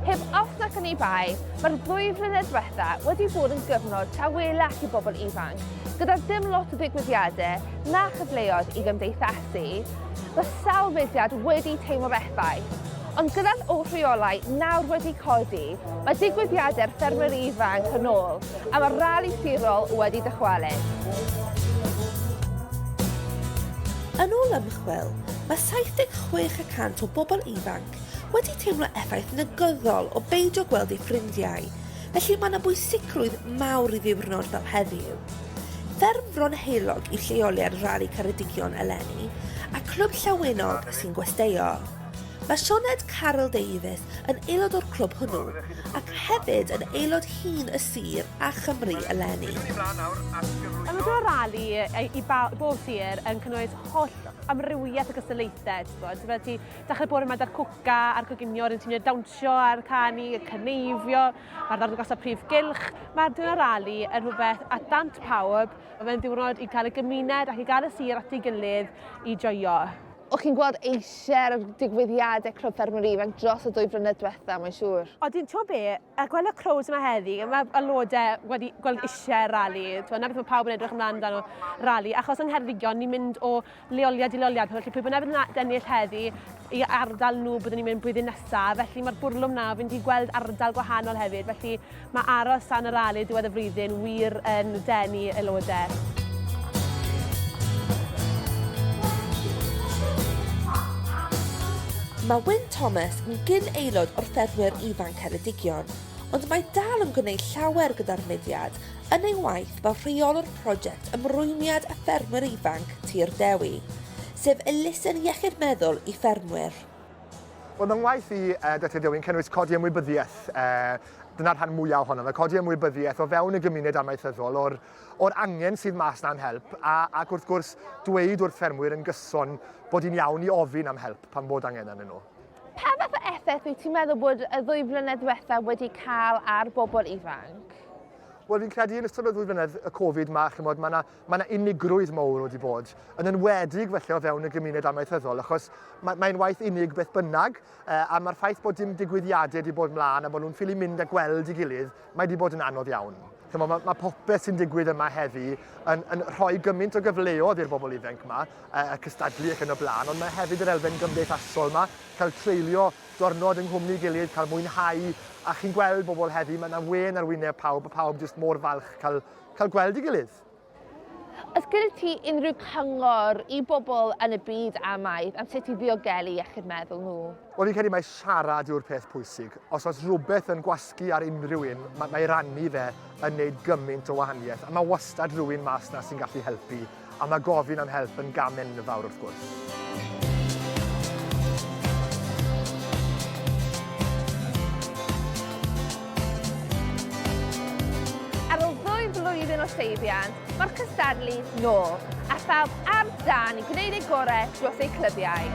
Heb os nac oni bai, mae'r ddwy flynedd diwetha wedi bod yn gyfnod tawelach i bobl ifanc, gyda dim lot o ddigwyddiadau na chyfleoedd i gymdeithasu. Mae sawl mudiad wedi teimlo'r effaith, ond gyda'r oll reolau nawr wedi codi, mae digwyddiadau'r ffermwyr ifanc yn ôl, A mae'r rali sirol wedi dychwelyd. Yn ôl ymchwil, mae 76 y cant o bobl ifanc wedi teimlo effaith negyddol o beidio gweld eu ffrindiau, felly mae yna bwysigrwydd mawr i ddiwrnod fel heddiw. Fferm Fron Heulog yw lleoliad Rali Ceredigion eleni, a Clwb Llawenog sy'n gwesteio. Mae Sioned Caryl Davies yn aelod o'r clwb hwnnw, ac hefyd yn aelod hŷn y sir a Chymru eleni. Ymwneud â'r rali i bob sir yn cynnwys holl amrywiaeth o gystadlaethau, ti'n gwybod, fel ti, dechrau bore yma 'da'r cwca a'r coginio, rydyn ti'n dawnsio a'r canu, y cyneifio, mae'r ddangosau prif gylch, mae'r diwrnod rali yn rhywbeth at dant pawb, mae fe'n ddiwrnod i cael y gymuned ac i gael y sir at ei gilydd i joio. O chi'n gweld eisiau'r digwyddiadau Clwb Ffermwyr Ifanc dros y dwy flynedd diwetha, mae'n siŵr? O, dwi'n to be, a gweld y crowds yma heddi, mae aelodau wedi gweld eisiau'r rali, na beth mae pawb yn edrych ymlaen dan o rali, achos yng Ngheredigion ni'n mynd o leoliad i leoliad, felly pwy bynnag yn ennill heddi i ardal nhw byddwn ni'n mynd blwyddyn nesaf, felly mae'r bwrlwm na, fi'n wedi gweld ardal gwahanol hefyd, felly Mae aros tan y rali diwedd y flwyddyn wir yn denu aelodau. Mae Wyn Thomas yn gyn aelod o'r Ffermwyr Ifanc Ceredigion, ond mae dal yn gwneud llawer gyda'r mudiad yn ei waith fel rheolwr prosiect ymrwymiad y ffermwyr ifanc Tir Dewi, sef elusen iechyd meddwl i ffermwyr. Wel, fy ngwaith i, uh, Dr Dewi, yn cynnwys codi ymwybyddiaeth uh, dyna'r rhan mwyaf ohono fe, codi ymwybyddiaeth o fewn y gymuned amaethyddol o'r, or angen sydd mas na'n help a, ac wrth gwrs dweud wrth ffermwyr yn gyson bod hi'n iawn i ofyn am help pan bod angen arnyn nhw. Pa fath o effaith wyt ti'n meddwl bod y ddwy flynedd diwethaf wedi cael ar bobl ifanc? Wel, fi'n credu yn ystod y ddwy flynedd y Covid mae, chymod, mae yna mae 'na unigrwydd mowr wedi bod, yn enwedig felly o fewn y gymuned amaethyddol, achos mae, mae'n waith unig beth bynnag, e, a mae'r ffaith bod dim digwyddiadau wedi bod mlaen a bod nhw'n ffili mynd a gweld i gilydd, mae wedi bod yn anodd iawn. Chymo, mae, mae popeth sy'n digwydd yma heddi yn, yn rhoi gymaint o gyfleodd i'r bobl ifanc yma, e, y cystadlu ac yn y blaen, ond mae hefyd yr elfen gymdeithasol yma, cael treulio diwrnod yng nghwmni gilydd, cael mwynhau, a chi'n gweld bobl heddi, mae yna wen ar wyneb pawb, a pawb jyst mor falch cael cael gweld ei gilydd. Oes gyda ti unrhyw cyngor i bobl yn y byd amaeth am sut i ddiogelu iechyd meddwl nhw? Wel fi'n credu mai siarad yw'r peth pwysig. Os oes rhywbeth yn gwasgu ar unrhyw un, mae, mae rannu fe yn neud gymaint o wahaniaeth. A mae wastad rhywun mas na sy'n gallu helpu. a mae gofyn am help yn gam enfawr wrth gwrs. flwyddyn o seibiant, mae'r cystadlu nôl, a phawb ar dân i gwneud eu gorau dros eu clybiau.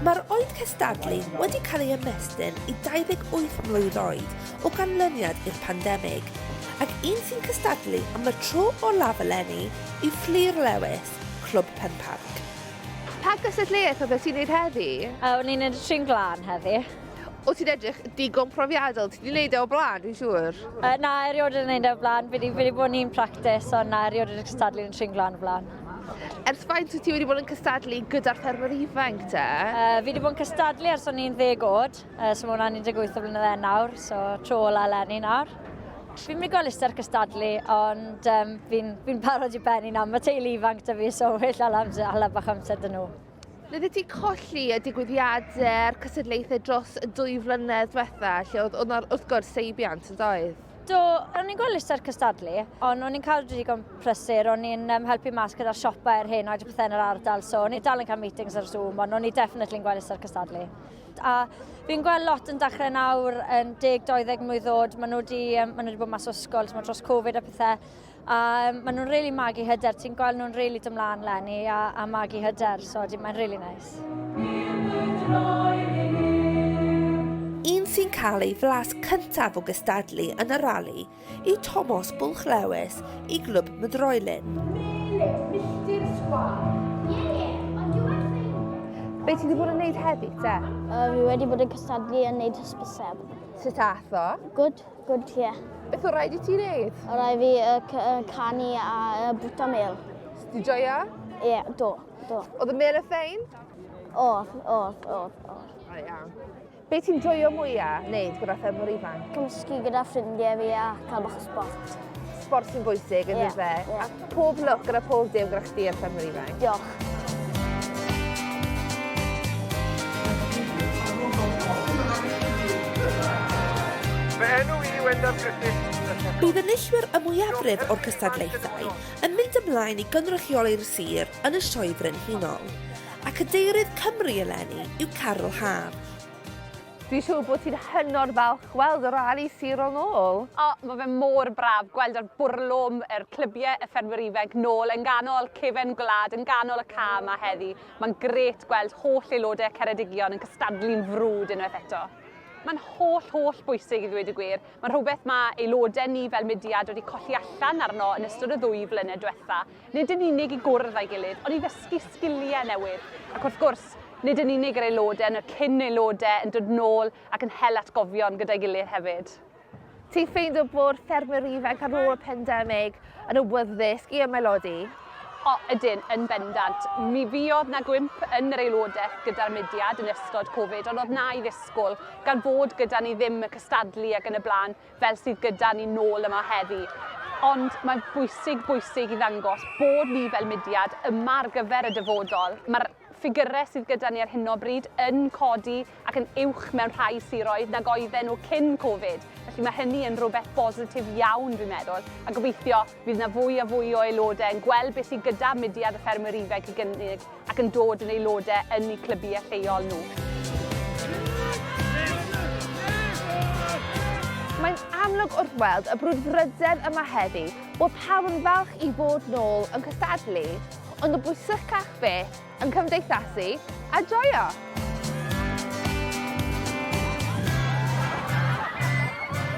Mae'r oed cystadlu wedi cael ei ymestyn i 28 mlwydd oed, o ganlyniad i'r pandemig, ac un sy'n cystadlu am y tro olaf eleni i Fflur Lewis, Clwb Penparc. Pa gystadleuaeth oedd e ti'n neud heddi? Yy o'n i'n neud y Trin Glân heddi. O't ti'n edrych digon profiadol, ti 'di neud e o'r blaen dwi'n siŵr? Yy na erioed wedi neud e o'r blaen, fi 'di fi 'di bod yn un practis ond na erioed wedi cystadlu yn y Trin Glân o'r blaen. Ers faint wyt ti wedi bod yn cystadlu gyda'r ffermwyr ifanc te? Yy fi 'di bod yn cystadlu ers o'n i'n ddeg o'd. Uh, so mae hwnna'n 18 o flynydde nawr, so tro ola eleni nawr. Fi'n mynd i gweld lister cystadlu, ond um, fi'n fi parod i benni nawr. Mae teulu ifanc da fi, so well ala, amser, ala bach amser dyn nhw. Rydych ti colli y digwyddiadau'r cysadlaethau dros y dwy flynedd diwetha, lle oedd hwnna'r wrth gwrs seibiant yn doedd? Do, o'n i'n gweld lister cystadlu, ond o'n i'n cael digon prysur, o'n i'n um, helpu mas gyda'r siopau ar hyn oed y pethau yn yr ardal, so o'n i'n dal yn cael meetings ar Zoom, ond o'n i'n definitely yn gweld lister cystadlu. A fi'n gweld lot yn dechrau nawr yn 10-20 mlynedd oed, maen nhw wedi, maen nhw wedi bod mas o ysgol, mae dros Covid a pethau, a maen nhw'n rili really magu hyder, ti'n gweld nhw'n rili really dymlaen lenni a, a magu hyder, so mae'n rili really neis. Un sy'n cael ei flas cyntaf o gystadlu yn y rali i Tomos Bwlch Lewis i Glwb Mydroelyn. Be ti wedi bod yn neud heddi, te? Uh, fi wedi bod yn cystadlu yn neud hysbyseb. Sut ath o? Good, good, ie. Yeah. Beth o rhaid i ti neud? O rhaid fi uh, canu a uh, bwta mel. Di joio? Ie, yeah, do, do. Oedd y mel y ffein? Oedd, oedd, oedd, oedd. O iawn. Be ti'n joio mwya wneud gyda thef mor ifanc? Cymysgu gyda ffrindiau fi a cael bach o sport. Sport sy'n bwysig yn yeah, fe? Yeah. A pob lwc gyda pob dim gyda chdi ar thef mor ifanc. Diolch. Bydd enillwyr y mwyafrif o'r cystadlaethau yn mynd ymlaen i gynrychioli'r sir yn y Sioe Frenhinol. A Cadeirydd Cymru eleni yw Carol Hâr. Dwi'n siŵr bod ti'n hynod falch gweld y rali sirol nôl. O, mae fe mor braf gweld yr bwrlwm, yr clybiau, y ffermwyr ifanc nôl yn ganol cefen gwlad, yn ganol y ca yma heddi. Mae'n gret gweld holl aelodau Ceredigion yn cystadlu'n frwd unwaith eto. Mae'n holl, holl bwysig i ddweud y gwir. Mae'n rhywbeth mae aelodau ni fel mudiad wedi colli allan arno yn ystod y ddwy flynedd diwetha. nid yn unig i gwrdd â'i gilydd, ond i ddysgu sgiliau newydd, ac wrth gwrs, nid yn unig yr aelodau, ond y cyn aelodau yn dod nôl ac yn hel atgofion gyda'i gilydd hefyd. Ti'n ffeindio bod ffermwyr ifanc ar ôl y pandemig yn awyddus i ymaelodi? O, ydyn, yn bendant. Mi fuodd na gwymp yn yr aelodaeth gyda'r mudiad yn ystod Covid, ond oedd na i ddisgwyl, gan fod gyda ni ddim y cystadlu ac yn y blaen. fel sydd gyda ni nôl yma heddi. Ond mae'n bwysig, bwysig i ddangos bod ni fel mudiad yma ar gyfer y dyfodol. Mae'r ffigurau sydd gyda ni ar hyn o bryd yn codi ac yn uwch mewn rhai siroedd nag oedden nhw cyn Covid. Felly mae hynny yn rhywbeth bositif iawn, dwi'n meddwl, a gobeithio Bydd 'na fwy a fwy o aelodau yn gweld beth sydd gyda mudiad y Ffermwyr Ifainc i gynnig ac yn dod yn aelodau yn eu clybiau lleol nhw. Mae'n amlwg wrth weld y brwdfrydedd yma heddi bod pawb yn falch i fod nôl yn cystadlu, ond yn bwysicach fyth, yn cymdeithasu a joio!